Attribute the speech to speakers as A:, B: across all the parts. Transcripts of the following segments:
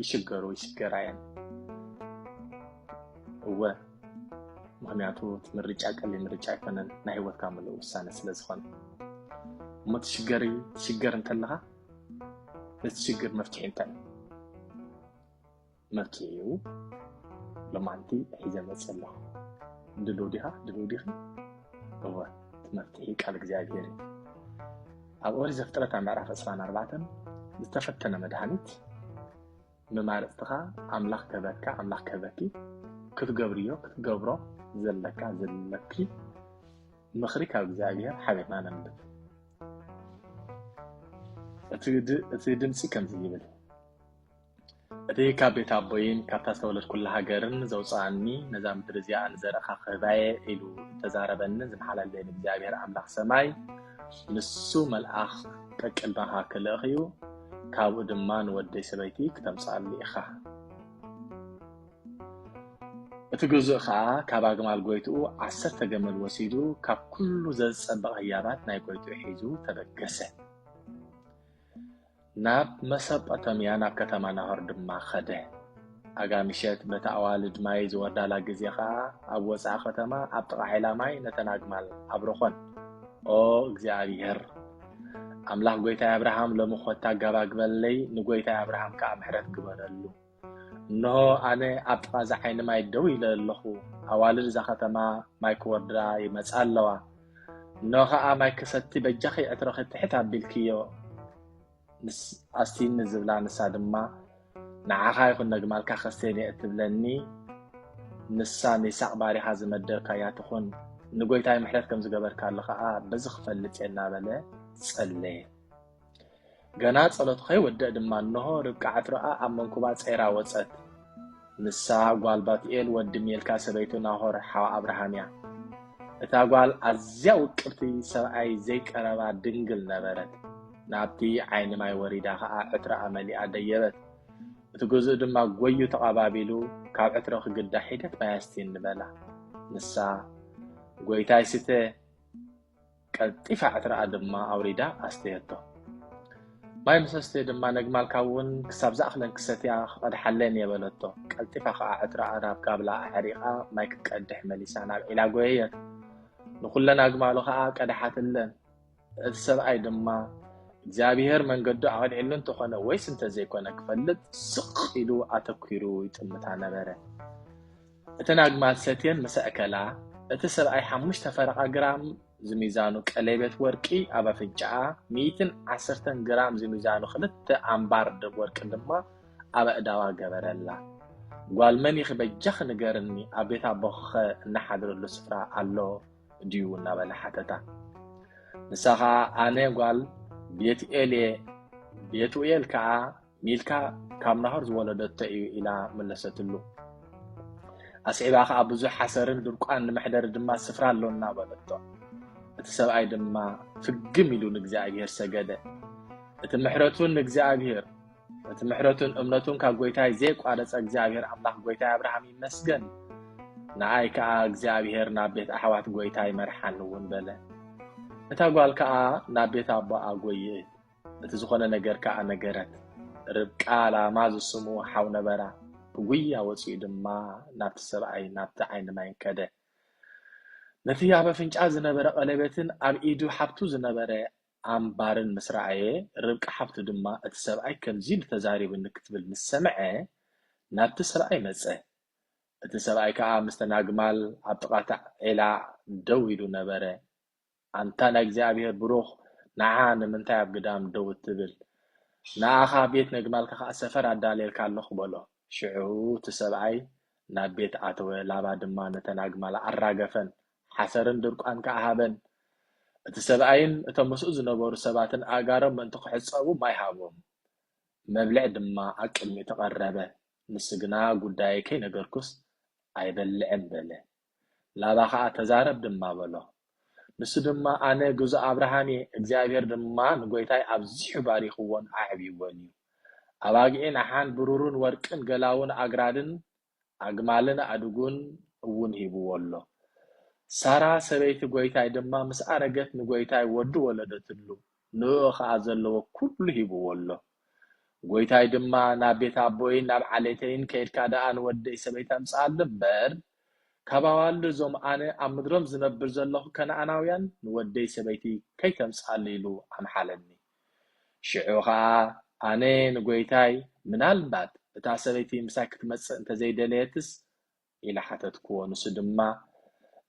A: ይሽገሩ ይሽገራ እየን እወ ምክንያቱ እቲ ምርጫ ቀሊል ምርጫ ኣይኮነን ናይ ሂወትካ ምሉእ ውሳነ ስለ ዝኾነ እሞ ትሽገሪ ትሽገር እንተለኻ ነቲ ሽግር መፍትሒ እንታይ መፍትሒኡ ሎማንቲ ሒዘ መፅ ኣለኹ ድልው ዲኻ ድልው ዲኺ እወ እቲ መፍትሒ ቃል እግዚኣብሄር እዩ ኣብ ኦሪት ዘፍጥረት ኣብ ምዕራፍ ዕስራን ኣርባዕተን ዝተፈተነ መድሃኒት መማረፅትኻ ኣምላኽ ክህበካ ኣምላኽ ክህበኪ ክትገብርዮ ክትገብሮ ዘለካ ዘለኪ ምኽሪ ካብ እግዚኣብሔር ሓቢርና ነንብብ እቲ ድምፂ ከምዚ ይብል እቲ ካብ ቤት ኣቦይን ካብታ ዝተወለድኩላ ሃገርን ዘውጽኣኒ ነዛ ምድሪ እዚኣ ንዘርእኻ ክህባየ ኢሉ እተዛረበንን ዝመሓላለየን እግዚኣብሔር ኣምላኽ ሰማይ ንሱ መልኣኽ ቀቅድመኻ ክልእኽ እዩ ካብኡ ድማ ንወደይ ሰበይቲ ክተምጽኣሉ ኢኻ እቲ ግዙእ ከዓ ካብ ኣግማል ጎይትኡ ዓሰርተ ገመል ወሲዱ ካብ ኩሉ ዘዝጸበቐ ህያባት ናይ ጎይትኡ ሒዙ ተበገሰ ናብ መሰጶታምያ ናብ ከተማ ናሆር ድማ ኸደ። ኣጋ ምሸት በታ ኣዋልድ ማይ ዝወርዳላ ግዜ ኸኣ ኣብ ወጻኢ ከተማ ኣብ ጥቓ ዔላ ማይ ነተን ኣግማል ኣብረኾን። ኦ እግዚኣብሄር ኣምላኽ ጐይታይ ኣብርሃም ሎሚ ኮታ ጋባግበለይ ንጐይታይ ኣብርሃም ከኣ ምሕረት ግበረሉ። እንሆ ኣነ ኣብ ጥቓ እዛ ዓይኒ ማይ ደው ኢለ ኣለኹ፣ ኣዋልድ እዛ ኸተማ ማይ ክወርዳ ይመጻ ኣለዋ፣ እንሆ ኸኣ ማይ ክሰቲ በጃኺ ዕትሮኺ ትሕት ኣቢልክዮ ምስ ኣስትይኒ ዝብላ ንሳ ድማ ንዓኻ ይኹን ነግማልካ ከስተየን እየ እትብለኒ ንሳ ንይሳቅ ባሪኻ ዝመደብካያ ትኹን ንጎይታይ ምሕረት ከም ዝገበርካሉ ኸኣ በዚ ክፈልጥ እየ እናበለ ጸለየ። ገና ጸሎት ኸይወደእ ድማ እነሆ ርብቃ ዕትሮኣ ኣብ መንኩባ ጸይራ ወጸት። ንሳ ጓል ባትኤል ወዲ ሜልካ ሰበይቱ ናሆር ሓው ኣብርሃም እያ። እታ ጓል ኣዝያ ውቅብቲ ሰብኣይ ዘይቀረባ ድንግል ነበረት። ናብቲ ዓይኒ ማይ ወሪዳ ኸኣ ዕትሮኣ መሊኣ ደየበት። እቲ ግዙእ ድማ ጎዩ ተቐባቢሉ ካብ ዕትሮ ክግዳ ሒደት ማይ ኣስትየኒ በላ። ንሳ ጎይታይ ስተ ቀልጢፋ ዕትራኣ ድማ ኣውሪዳ ኣስተየቶ። ማይ ምስ ኣስተየ ድማ ነግማልካ እውን ክሳብ ዝኣኽለን ክሰትያ ክቐድሓለን እየ በለቶ። ቀልጢፋ ከኣ ዕትራኣ ናብ ጋብላ ኣዕሪቓ ማይ ክትቀድሕ መሊሳ ናብ ዒላ ጎየየት። ንኹለን ኣግማሉ ከኣ ቀድሓትለን። እቲ ሰብኣይ ድማ እግዚኣብሄር መንገዱ ኣቕኒዕሉ እንተኾነ ወይስ እንተዘይኮነ ክፈልጥ ስቕ ኢሉ ኣተኲሩ ይጥምታ ነበረ። እተን ኣግማል ሰትየን ምስ ኣእከላ፣ እቲ ሰብኣይ ሓሙሽተ ፈረቓ ግራም ዝሚዛኑ ቀሌቤት ወርቂ ኣብ ኣፍንጫኣ፣ ሚእትን ዓሰርተን ግራም ዝሚዛኑ ክልተ ኣምባር ደብ ወርቂ ድማ ኣብ ኣእዳዋ ገበረላ። ጓል መን ኢኺ በጃኺ ንገርኒ፣ ኣብ ቤት ኣቦኺኸ እንሓድረሉ ስፍራ ኣሎ ድዩ? እናበለ ሓተታ። ንሳ ኸኣ ኣነ ጓል ቤቱኤል'የ፣ ቤቱኤል ከኣ ሚልካ ካብ ናሆር ዝወለደቶ እዩ ኢላ መለሰትሉ። ኣስዒባ ከኣ ብዙሕ ሓሰርን ድርቋን ንመሕደሪ ድማ ስፍራ ኣሎና በለቶ። እቲ ሰብኣይ ድማ ፍግም ኢሉ ንእግዚኣብሄር ሰገደ። እቲ ምሕረቱን ንእግዚኣብሄር እቲ ምሕረቱን እምነቱን ካብ ጎይታይ ዘይቋረጸ እግዚኣብሄር ኣምላኽ ጎይታይ ኣብርሃም ይመስገን ንኣይ ከኣ እግዚኣብሄር ናብ ቤት ኣሕዋት ጎይታይ መርሓኒ እውን በለ። እታ ጓል ከኣ ናብ ቤት ኣቦኣ ጎየየት። በቲ ዝኾነ ነገር ከኣ ነገረት። ርብቃ ላማ ዝስሙ ሓው ነበራ። ብጉያ ወጺኡ ድማ ናብቲ ሰብኣይ ናብቲ ዓይኒ ማይ ከደ። ነቲ ኣብ ኣፍንጫ ዝነበረ ቀለቤትን ኣብ ኢዱ ሓብቱ ዝነበረ ኣምባርን ምስ ረኣየ፣ ርብቃ ሓብቱ ድማ እቲ ሰብኣይ ከምዚ ኢሉ ተዛሪቡኒ ክትብል ምስ ሰምዐ ናብቲ ሰብኣይ መጸ። እቲ ሰብኣይ ከኣ ምስተን ኣግማል ኣብ ጥቓ እቲ ዔላ ደው ኢሉ ነበረ። ኣንታ ናይ እግዚኣብሔር ብሩኽ ንዓ ንምንታይ ኣብ ግዳም ደው እትብል ንኣኻ ቤት ነግማልካ ከኣ ሰፈር ኣዳልየልካ ኣለኹ በሎ ሽዑ እቲ ሰብኣይ ናብ ቤት ኣተወ ላባ ድማ ነተን ኣግማል ኣራገፈን ሓሰርን ድርቋን ከኣ ሃበን እቲ ሰብኣይን እቶም ምስኡ ዝነበሩ ሰባትን ኣእጋሮም ምእንቲ ክሕጸቡ ማይ ሃቦም መብልዕ ድማ ኣብ ቅድሚኡ ተቐረበ ንሱ ግና ጉዳየይ ከይነገርኩስ ኣይበልዕን በለ ላባ ኸኣ ተዛረብ ድማ በሎ። ንሱ ድማ ኣነ ግዙእ ኣብርሃም እየ፣ እግዚኣብሄር ድማ ንጐይታይ ኣብዚሑ ባሪኽዎን ኣዕብይዎን እዩ፣ ኣባጊዕን ኣሓን ብሩርን ወርቅን ገላዉን ኣግራድን ኣግማልን ኣእዱግን እውን ሂብዎ ኣሎ። ሳራ ሰበይቲ ጐይታይ ድማ ምስ ኣረገት ንጐይታይ ወዲ ወለደትሉ። ንእኡ ኸኣ ዘለዎ ኵሉ ሂብዎ ኣሎ። ጐይታይ ድማ፣ ናብ ቤት ኣቦይን ናብ ዓሌተይን ከይድካ ደኣ ንወደይ ሰበይቲ ኣምጽኣሉ እምበር፣ ካብ ኣዋልድ እዞም ኣነ ኣብ ምድሮም ዝነብር ዘሎኹ ከነኣናውያን ንወደይ ሰበይቲ ከይተምጽኣሉ ኢሉ ኣምሓለኒ። ሽዑ ኸኣ ኣነ ንጐይታይ፣ ምናልባት እታ ሰበይቲ ምሳይ ክትመጽእ እንተ ዘይደለየትስ ኢለ ሓተትክዎ። ንሱ ድማ፣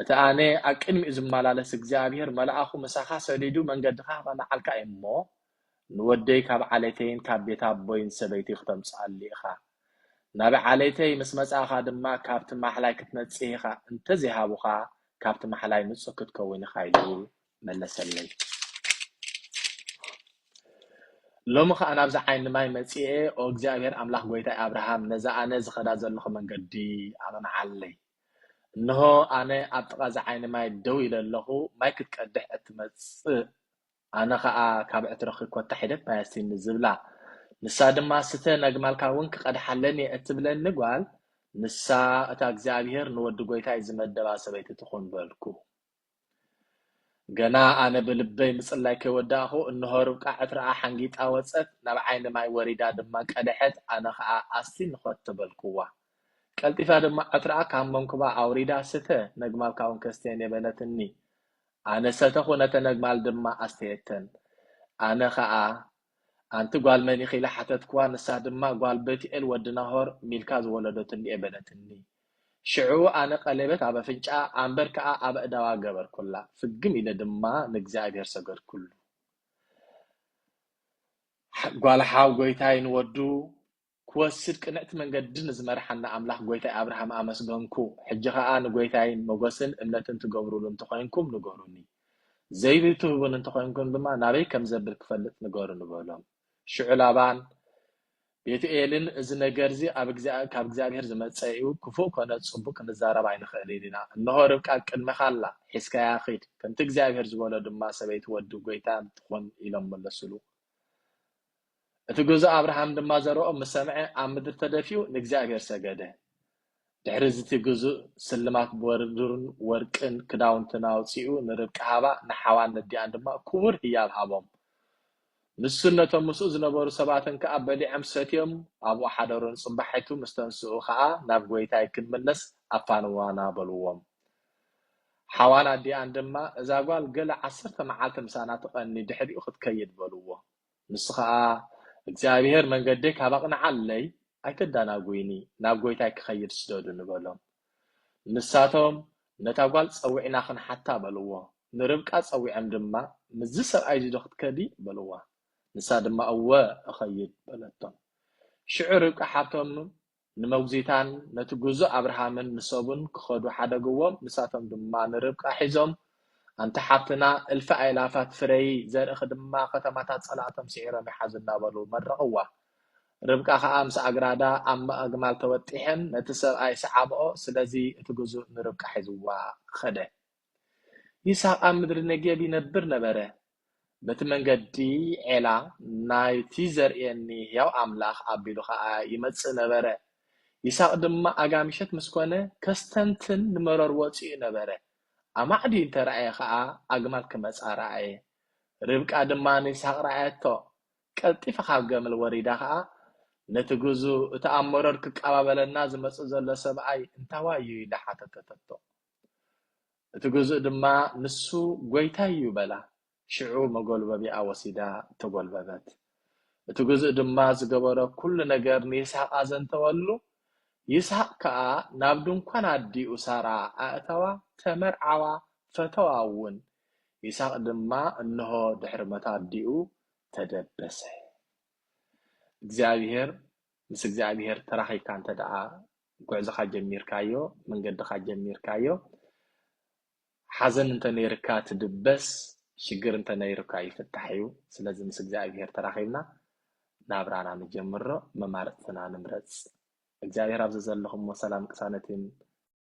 A: እቲ ኣነ ኣብ ቅድሚኡ ዝመላለስ እግዚኣብሄር መልኣኹ ምሳኻ ሰዲዱ መንገድኻ ከለዓልካ እዩ እሞ፣ ንወደይ ካብ ዓሌተይን ካብ ቤት ኣቦይን ሰበይቲይ ክተምጽኣሊ ኢኻ። ናብ ዓሌተይ ምስ መጻእካ ድማ ካብቲ ማሕላይ ክትነጽህ ኢኻ፣ እንተ ዘይሃቡኻ ካብቲ ማሕላይ ንጹህ ክትከውን ኢኻ ኢሉ መለሰለይ። ሎሚ ኸኣ ናብዚ ዓይኒ ማይ መጺኤ፣ ኦ እግዚኣብሄር ኣምላኽ ጐይታይ ኣብርሃም፣ ነዛ ኣነ ዝኸዳ ዘሎኹ መንገዲ ኣቕንዓለይ። እንሆ፣ ኣነ ኣብ ጥቓ እዚ ዓይኒ ማይ ደው ኢለ ኣሎኹ፣ ማይ ክትቀድሕ እትመጽእ ኣነ ኸኣ ካብ ዕትሮኺ ኰታ ሒደት ማይ ኣስትይኒ ዝብላ፣ ንሳ ድማ ስተ፣ ነግማልካ እውን ክቐድሓለን እየ እትብለኒ ጓል፣ ንሳ እታ እግዚኣብሄር ንወዲ ጐይታይ ዝመደባ ሰበይቲ ትኹን በልኩ። ገና ኣነ ብልበይ ምጽላይ ከይወዳእኩ እንሆ ርብቃ ዕትራኣ ሓንጊጣ ወጸት፣ ናብ ዓይኒ ማይ ወሪዳ ድማ ቀደሐት፣ ኣነ ከኣ ኣስቲ ንኸቶ በልኩዋ። ቀልጢፋ ድማ ዕትራኣ ካብ መንኩባ ኣውሪዳ ስተ ነግማልካውን ከስትየን እየ በለትኒ። ኣነ ሰተኹ ነተን ነግማል ድማ ኣስተየተን። ኣነ ከኣ ኣንቲ ጓል መን ኢኺ ኢለ ሓተትክዋ፣ ንሳ ድማ ጓል በቱኤል ወዲ ናሆር፣ ሚልካ ዝወለደቶ እንድየ በለትኒ። ሽዑ ኣነ ቀሌበት ኣብ ኣፍንጭኣ፣ ኣምበር ከኣ ኣብ ኣእዳዋ ገበርኩላ፣ ፍግም ኢለ ድማ ንእግዚኣብሄር ሰገድኩሉ። ጓል ሓው ጐይታይ ንወዱ ክወስድ ቅንዕቲ መንገዲ ንዝመርሓና ኣምላኽ ጎይታይ ኣብርሃም ኣመስገንኩ ሕጂ ከኣ ንጎይታይ ሞጎስን እምነትን ትገብሩሉ እንተኮይንኩም ንገሩኒ ዘይቢ ትህቡኒ እንተኮይንኩም ድማ ናበይ ከምዘብል ክፈልጥ ንገሩኒ በሎም ሽዑ ላባን ቤቱኤልን እዚ ነገርዚ ካብ እግዚኣብሄር ዝመጸ እዩ ክፉእ ኮነ ጽቡቅ ክንዛረብ ኣይንክእልን ኢና እንሆ ርብቃ ኣብ ቅድሜካ ኣላ ሒዝካያ ኪድ ከምቲ እግዚኣብሄር ዝበሎ ድማ ሰበይቲ ወዲ ጎይታ ትኩን ኢሎም መለሱሉ እቲ ግዙእ ኣብርሃም ድማ ዘረኦም ምስ ሰምዐ ኣብ ምድሪ ተደፊኡ ንእግዚኣብሔር ሰገደ። ድሕሪ እዚ እቲ ግዙእ ስልማት ብሩርን ወርቅን ክዳውንትን ኣውጺኡ ንርብቃ ሃባ፣ ንሓዋን ነዲኣን ድማ ክቡር ህያብ ሃቦም። ንሱን ነቶም ምስኡ ዝነበሩ ሰባትን ከኣ በሊዖም ሰትዮም ኣብኡ ሓደሩ፣ ንጽባሒቱ ምስ ተንስኡ ኸኣ ናብ ጐይታይ ክንምለስ ኣፋንዋና በልዎም። ሓዋን ኣዲኣን ድማ እዛ ጓል ገለ ዓሰርተ መዓልቲ ምሳና ትቐኒ ድሕሪኡ ክትከይድ በልዎም። ንሱ ኸኣ፣ እግዚኣብሄር መንገደይ ካብ ኣቕንዓለይ፣ ኣይተዳናጉይኒ፣ ናብ ጐይታይ ክኸይድ ስደዱኒ፣ በሎም። ንሳቶም፣ ነታ ጓል ጸዊዕና ኽንሓታ፣ በልዎ። ንርብቃ ጸዊዖም ድማ፣ ምስዚ ሰብኣይዚዶ ኽትከዲ? በልዋ። ንሳ ድማ፣ እወ፣ እኸይድ፣ በለቶም። ሽዑ ርብቃ ሓብቶም፣ ንመጉዚታን ነቲ ግዙእ ኣብርሃምን ንሰቡን ክኸዱ ሓደግዎም፣ ንሳቶም ድማ ንርብቃ ሒዞም፣ ኣንቲ ሓፍትና፣ እልፊ ኣእላፋት ፍረዪ፣ ዘርእኺ ድማ ከተማታት ጸላእቶም ስዒሮም ይሓዙ እናበሉ መረቕዋ። ርብቃ ኸኣ ምስ ኣግራዳ ኣብ ኣግማል ተወጢሐን ነቲ ሰብኣይ ሰዓብኦ፣ ስለዚ እቲ ግዙእ ንርብቃ ሒዝዋ ኸደ። ይስሃቅ ኣብ ምድሪ ነጌብ ይነብር ነበረ በቲ መንገዲ ዔላ ናይቲ ዘርእየኒ ህያው ኣምላኽ ኣቢሉ ኸኣ ይመጽእ ነበረ ይስሃቅ ድማ ኣጋ ምሸት ምስ ኮነ ከስተንትን ንመሮር ወጺኡ ነበረ ኣማዕድዩ እንተ ረኣየ ኸኣ ኣግማል ክመጻ ረኣየ ርብቃ ድማ ንይስሃቅ ረኣየቶ ቀልጢፋ ካብ ገምል ወሪዳ ኸኣ ነቲ ግዙ እቲ ኣብ መሮር ክቃባበለና ዝመጽእ ዘሎ ሰብኣይ እንታዋይ እዩ ኢላ ሓተተተቶ እቲ ግዙእ ድማ ንሱ ጐይታይ እዩ በላ። ሽዑ መጐልበቢኣ ወሲዳ ተጐልበበት። እቲ ግዙእ ድማ ዝገበሮ ኵሉ ነገር ንይስሃቅ ኣዘንተወሉ። ይስሃቅ ከኣ ናብ ድንኳን ኣዲኡ ሳራ ኣእተዋ፣ ተመርዓዋ፣ ፈተዋ እውን። ይስሃቅ ድማ እንሆ ድሕሪ ሞት ኣዲኡ ተደበሰ። እግዚኣብሄር ምስ እግዚኣብሄር ተራኺብካ እንተደኣ ጉዕዞኻ ጀሚርካዮ መንገድኻ ጀሚርካዮ ሓዘን እንተነይርካ ትድበስ ሽግር እንተነይርካ ይፍታሕ እዩ ስለዚ ምስ እግዚኣብሄር ተራኺብና ናብራና ንጀምሮ መማርጽትና ንምረጽ እግዚኣብሄር ኣብ ዘዘለኹሞ ሰላም ቅሳነትን